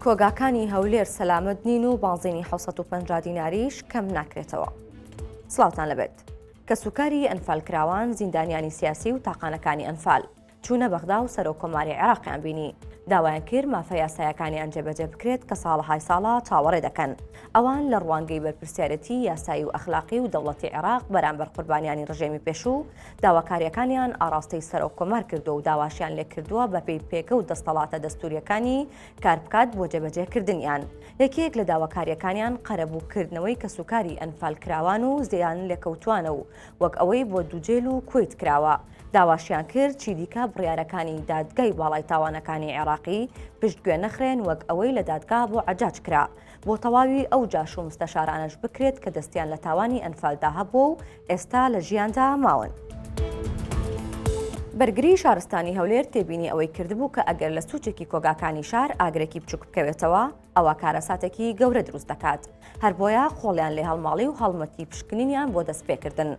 کۆگاکانی هەولێر سەلامەت نین و بازینی 1950 دیناریش کەم ناکرێتەوە. سلااوان لەبێت. کەسوکاری ئەنفالکراوان زیندانیانی سیاسی و تاقانەکانی ئەنفال. چوونە بەغدا و سەرۆک کۆماری عێراقیان بینی داوایان کرد مافە یاسایەکانیان جێبەجێ بکرێت کە ساڵەهای ساڵە چاوەڕێ دەکەن ئەوان لە ڕوانگەی بەرپرسیارەتی یاسایی و ئەخلاقی و دەوڵەتی عێراق بەرامبەر قوربانیانی ڕژێمی پێشوو داواکارییەکانیان ئاڕاستەی سەرۆک کۆمار کردووە و داواشیان لێکردووە بەپێی پێگە و دەستەڵاتە دەستوریەکانی کار بکات بۆ جێبەجێکردنیان یەکێک لە داواکارییەکانیان قەرەبووکردنەوەی کەسوکاری ئەنفال کراوان و زیان لێکەوتوانە و وەک ئەوەی بۆ دووجێل و کویت کراوە داواشیان کرد چی دیکە بڕیارەکانی دادگای باڵای تاوانەکانی عێراقی پشتگوێ نەخرێن وەک ئەوەی لە دادگا بۆ عجاج کرا بۆ تەواوی ئەو جاش و مستەشارانەش بکرێت کە دەستیان لە تاوانی ئەنفالدا هەبووە و ئێستا لە ژیاندا ماون. بەرگری شارستانی هەولێر تێبینی ئەوەی کردبوو کە ئەگەر لە سوچێکی کۆگاکانی شار ئاگرێکی بچوک بکەوێتەوە ئەوە کارەساتێکی گەورە دروست دەکات هەر بۆیە خۆڵیان لێ هەڵماڵی و هەڵمەتی پشکنینیان بۆ دەست پێکردن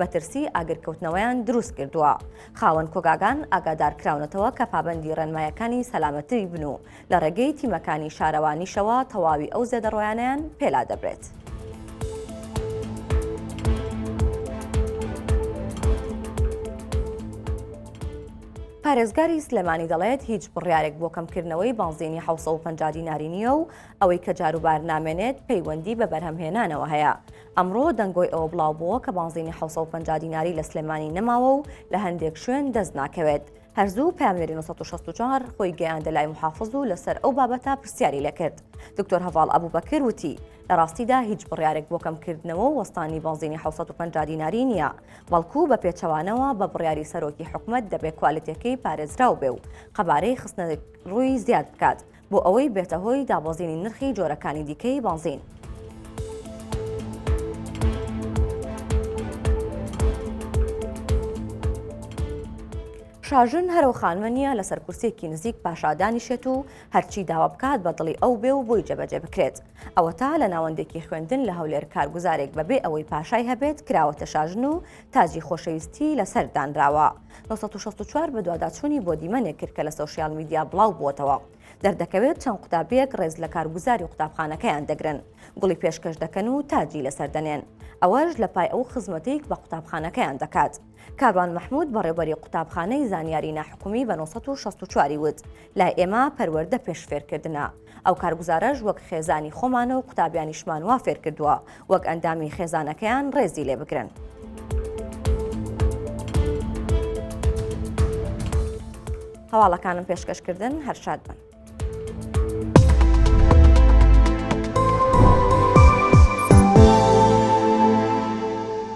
مەترسی ئاگرکەوتنەوەیان دروست کردووە خاوەن کۆگاگان ئاگادارکراونەتەوە کە پابەندی ڕێنمایەکانی سەلامەتری بن و لە ڕێگەی تیمەکانی شارەوانیشەوە تەواوی ئەو زێدەڕۆیانیان پێلا دەبرێت. پارێزگاری سلێمانی دەڵێت هیچ بڕیارێک بۆ کەمکردنەوەی بانزینی 1950 دیناری نییە و ئەوەی کە جاروبار نامێنێت پەیوەندی بە بەرهەمهێنانەوە هەیە ئەمڕۆ دەنگۆی ئەوە بڵاوبووە کە بانزینی حەوت سەد و پەنجا دیناری لە سلێمانی نەماوە و لە هەندێک شوێن دەست ناکەوێت. هەر زوو پەیامنێری نۆ سەد و شەست و چوار خۆی گەیاندە لای موحافز و لەسەر ئەو بابەتە پرسیاری لێ کرد. دکتۆر هەڤاڵ ئەبوبەکر وتی، لە ڕاستیدا هیچ بڕیارێک بۆ کەمکردنەوە و وەستانی بانزینی حەوت سەد و پەنجا دیناری نییە، بەڵکو بە پێچەوانەوە بە بڕیاری سەرۆکی حکومەت دەبێ کوالێتییەکەی پارێزراو بێ و قەبارەی خستنەڕووی زیاد بکات. بۆ ئەوەی بێتە هۆی دابەزینی نرخی جۆرەکانی دیکەی بەنزین. شاژن هەرو خانمە نییە لەسەر کورسێکی نزیک پاشادانیشێت و هەرچی داوا بکات بە دڵی ئەو بێ و بۆی جەبەجێ بکرێت ئەوە تا لە ناوەندێکی خوێندن لە هەولێر کارگوزارێک بەبێ ئەوەی پاشای هەبێت کراوەتە شاژن و تاجی خۆشەویستی لەسەر دانراوە نۆ سەد و شەست و چوار بەدواداچوونی بۆ دیمەنێک کرد کە لە سۆشیال میدیا بڵاو بووەتەوە دەردەکەوێت چەند قوتابیەک ڕێز لە کارگوزاری قوتابخانەکەیان دەگرن گوڵی پێشکەش دەکەن و تاجی لەسەر دەنێن ئەوەش لە پای ئەو خزمەتێک بە قوتابخانەکەیان دەکات کاروان مححمود بەڕێبەری قوتابخانەی زانیاری ناحکومی بە 1964 وت لای ئێمە پەروەەردە پێشفێرکردە ئەو کارگوزارەش وەک خێزانی خۆمان و قوتابیانیشمان وا فێر کردووە وەک ئەندامی خێزانەکەیان ڕێزی لێ بگرن. هەواڵەکانم پێشکەش کردن هەر شاد بن.